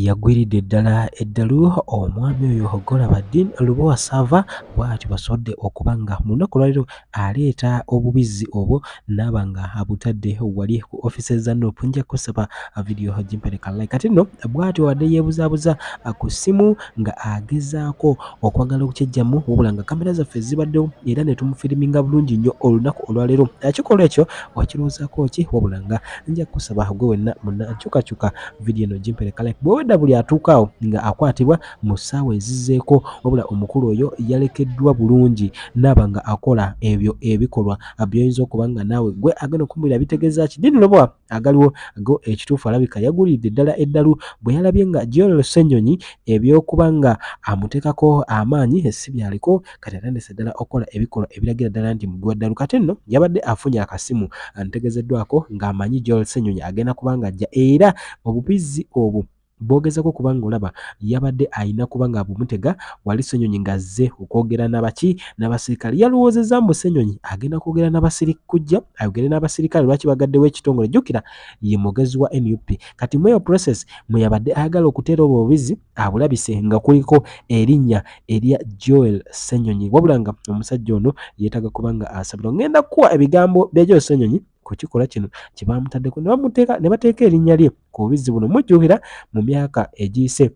yagwiridde ddala eddalu omwami oyo golabadin lubowa sava bwatyo basobodde okuba nga mu lunaku lwaliro aleeta obubizzi obwo naaba nga abutadde wali ku offices za nup nja kusaba vidiyo gimpereka like kati nno bwatyo wadde yeebuzaabuza ku ssimu nga agezaako okwagala okukyejjamu wabula nga kamera zaffe zibaddewo era ne tumufiriminga bulungi nnyo olunaku olwaleero ekikolwa ekyo wakirowoozako ki wabula nga nja kukusaba gwe wenna munna nkyukakyuka vidiyo eno gimpereka like bwewedda buli atuukaawo nga akwatibwa mu ssaawa ezizzeeko wabula omukulu oyo yalekeddwa bulungi naaba nga akola ebyo ebikolwa byoyinza okuba nga naawe gwe agenda okumubira bitegeeza ki dini lobwa agaliwo go ekituufu alabika yagulidde ddala eddalu bwe yalabye nga General Ssenyonyi ebyokuba nga amuteekako amaanyi si byaliko kati atandise ddala okukola ebikolwa ebiragira ddala nti mubi wa ddalu kati nno yabadde afunye akasimu antegezeddwako ng'amanyi General Ssenyonyi agenda kuba nga ajja era obubizzi obwo bwogezako kubanga olaba yabadde ayina kuba nga abumutega wali senyonyi nga azze okwogera nabaki nabasirikale yalowoozeza mbu senyonyi agenda kwogera nabasirika kujja ayogere n'abasirikale lwaki bagaddewo ekitongole jjukira ye mugezi wa nup kati mweyo process mweyabadde ayagala okuteera obwo obubizi abulabise nga kuliko erinnya erya joel senyonyi wabula nga omusajja ono yeetaga kubanga asabirwa ngenda kukuwa ebigambo bya joel senyonyi ku kikolwa kino kye baamutaddeko ne bamuteeka ne bateeka erinnya lye ku bubizzi buno mujjuhira mu myaka egiyise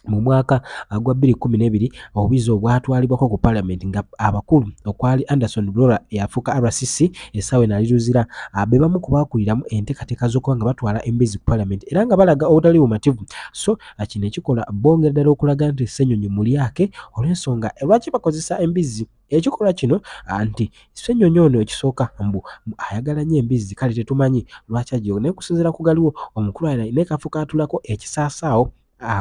mu mwaka gwa 2012 obubizi obwatwalibwako ku palamenti nga abakulu okwali anderson blora eyafuuka rcc essaawa eno aliruzira ah, be bamu ku baakuliramu enteekateeka z'okuba nga batwala embizi ku palamenti era nga balaga obutali bumativu so ah, kino ekikola bongera ddala okulaga nti ssenyonyi mulyake olw'ensonga lwaki bakozesa embizi Ekikolwa kino anti ssenyonyi ono ekisooka mbu ayagala nnyo embizzi kale tetumanyi lwaki ajja naye kusinziira ku galiwo omukulu ayina ne kafo kaatulako ekisaasaawo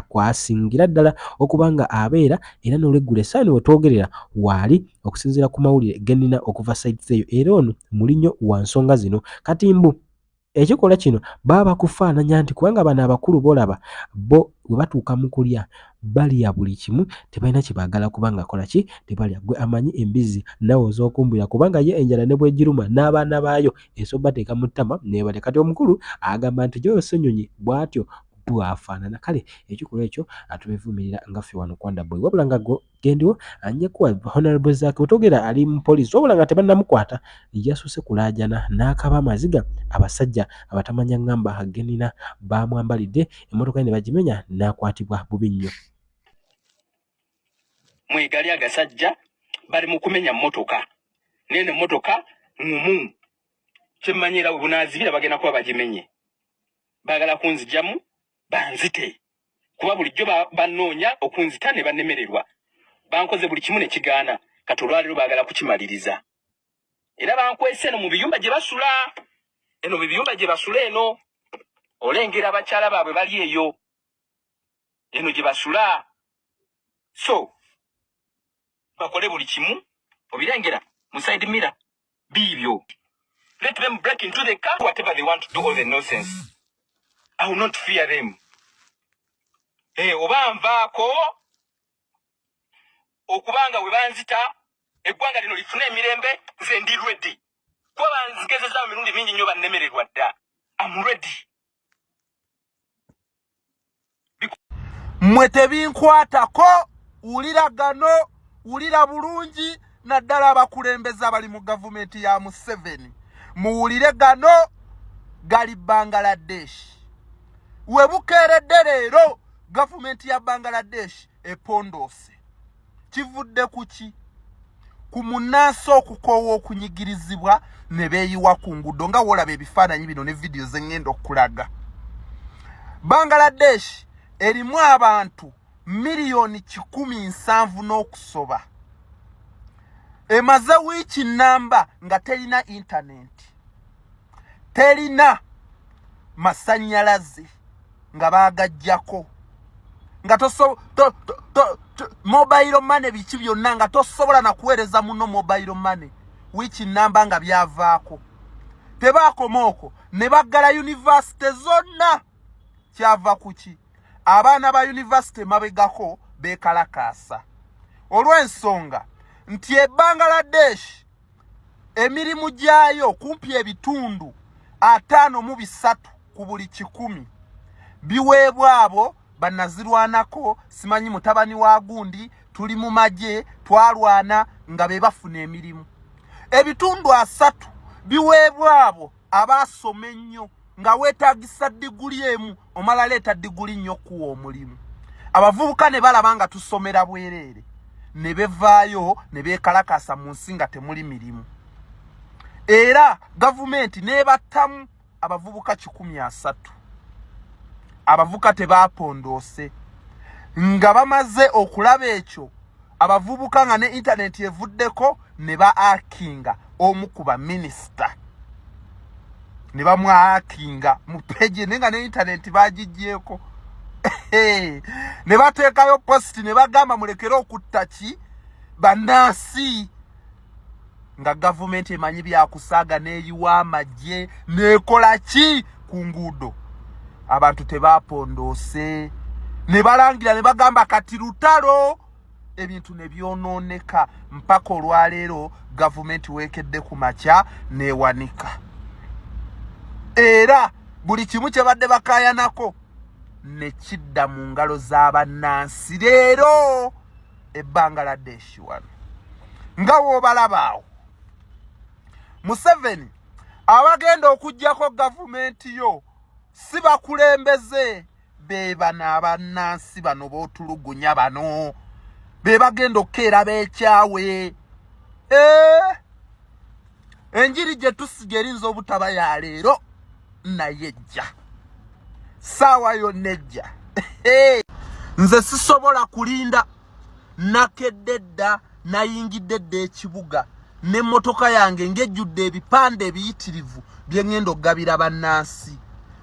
kwasingira ddala okuba nga abeera era n'olweggulo esaani we twogerera waali okusinziira ku mawulire ge nnina okuva sayidizeeyo era ono muli nnyo wa nsonga zino kati mbu ekikolwa kino baba bakufaananya nti kubanga bano abakulu bolaba bo we batuuka mu kulya balya buli kimu tebalina kye baagala kubanga akola ki tebalya gwe amanyi embizzi nawe oz'okumbulira kubanga ye enjala ne bwegiruma n'abaana baayo esobbateeka mu ttama nebalya kati omukulu agamba nti gyoyo ssenyonyi bw'atyo bwafaanana kale ekikolwa ekyo atubevumirira nga ffe wano kwanda boy wabula nga gendiwo anje kuwa honorable zaki otogera ali mu police wabula nga tebannamukwata yasuse kulaajana n'akaba amaziga abasajja abatamanya ngamba genina baamwambalidde emmotoka ye ne bagimenya n'akwatibwa bubi nnyo mwegali agasajja bali mu kumenya mmotoka naye ne mmotoka ngumu kyemmanyira we bunaazibira bagenda kuba bagimenye baagala kunzijamu banzite kuba bulijjo bannoonya okunzita ne bannemererwa bankoze buli kimu ne kigaana kati olwaleero baagala kukimaliriza era bankwese eno mu biyumba gye basula eno mu biyumba gye basula eno olengera abakyala baabwe bali eyo eno gye basula so bakole buli kimu obirengera musaidi mira biibyo let them break into the car whatever they want to do all the nonsense i will not fear them hey, eh, oba nvaako okuba nga we banzita eggwanga lino lifune emirembe nze ndi ready kuba banzigezeza mu mirundi mingi nnyo bannemererwa dda am ready mwe tebinkwatako wulira gano wulira bulungi naddala abakulembeze abali mu gavumenti ya museveni muwulire gano gali bangaladesh we bukeeredde leero gavumenti ya bangaladesh epondoose kivudde ku ki ku munnansi okukoowa okunyigirizibwa ne beeyiwa ku nguudo nga woolaba ebifaananyi bino ne vidiyo ze ŋŋenda okulaga bangaladesh erimu abantu miliyoni kikumi nsanvu n'okusoba emaze wiiki nnamba nga terina intanenti terina masanyalaze nga bagajjako nga toso to, to, to, to, mobile money biki byonna nga tosobola na kuweereza muno mobile money which namba nga byavaako tebaakoma okwo ne baggala yunivasite zonna kyava kuki abaana ba yunivasite mabegako beekalakaasa olw'ensonga nti ebbangaladeshi emirimu gyayo kumpi ebitundu ataano mu bisatu ku buli kikumi biweebwa abo banazirwanako simanyi mutabani wa gundi tuli mu magye twalwana nga be bafuna emirimu ebitundu asatu biweebwa abo aba asoma ennyo nga weetagisa diguli emu omala leeta diguli nnyo okuwa omulimu abavubuka ne balaba nga tusomera bwereere ne bevaayo ne beekalakaasa mu nsi nga temuli mirimu era gavumenti n'ebattamu abavubuka kikumi asatu abavuka tebaapondoose nga bamaze okulaba ekyo abavubuka nga ne intaneti evuddeko ne ba akinga omu ku baminisita ne bamwakinga mu peji naye nga ne intaneti bagigyeko ne bateekayo positi ne bagamba mulekere okutta ki bannansi nga gavumenti emanyi byakusaaga neeyiwa amagye neekola ki ku nguudo abantu tebaapondoose ne balangira ne bagamba kati lutalo ebintu ne byonooneka mpaka olwaleero gavumenti weekedde ku makya neewanika era buli kimu kye badde bakaayanako ne kidda mu ngalo za bannansi leero e bangaladeshi wano nga wobalabaawo museveni abagenda okugjako gavumenti yo si bakulembeze bebano abannansi bano botulugunya bano bebagenda okukeera bekyawe ee eh? enjiri gye tusiga erinza obutaba ya leero naye ejja saawa yonna ejja nze sisobola kulinda nakedde dda nayingidde dda ekibuga n'emmotoka yange ng'ejjudde ebipande ebiyitirivu bye ŋŋenda okugabira bannansi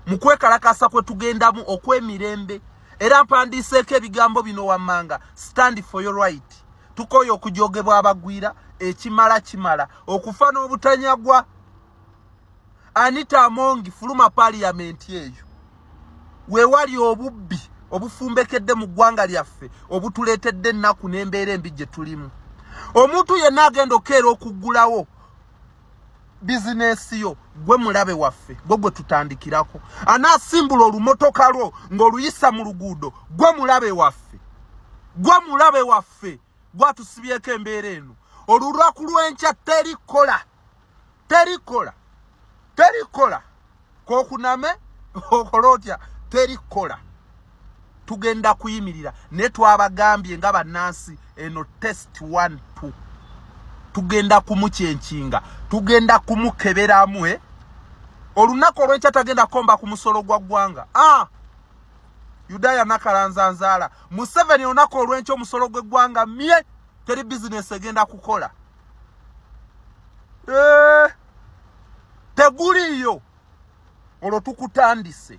mu kwekalakaasa kwe tugendamu okw'emirembe era mpandiiseeko ebigambo bino wammanga stand for your right tukooye okujogebwa abagwira ekimala kimala okufa n'obutanyagwa anita amongi fuluma paliyamenti eyo wewali obubbi obufumbekedde mu ggwanga lyaffe obutuleetedde ennaku n'embeera embi gye tulimu omuntu yenna agenda okukeera okuggulawo bizinesi yo gwe mulabe waffe gwe gwe tutandikirako anaasimbula olumotoka lwo ng'oluyisa mu luguudo gwe mulabe waffe gwe mulabe waffe gwatusibyeko embeera eno olulwaku lw'enkya terikola terikola terikola kokuname okole otya teri kukola tugenda kuyimirira naye twabagambye nga bannansi eno test one two tugenda kumukyenkinga tugenda kumukeberamu eh? olunaku olwenkya tagenda komba ku musolo gwa ggwanga ah! yudaaya nakalanzanzaala museveni olunaku olwenkya omusolo gw'eggwanga mye teri bizinesi egenda kukola eh! teguliiyo olwo tukutandise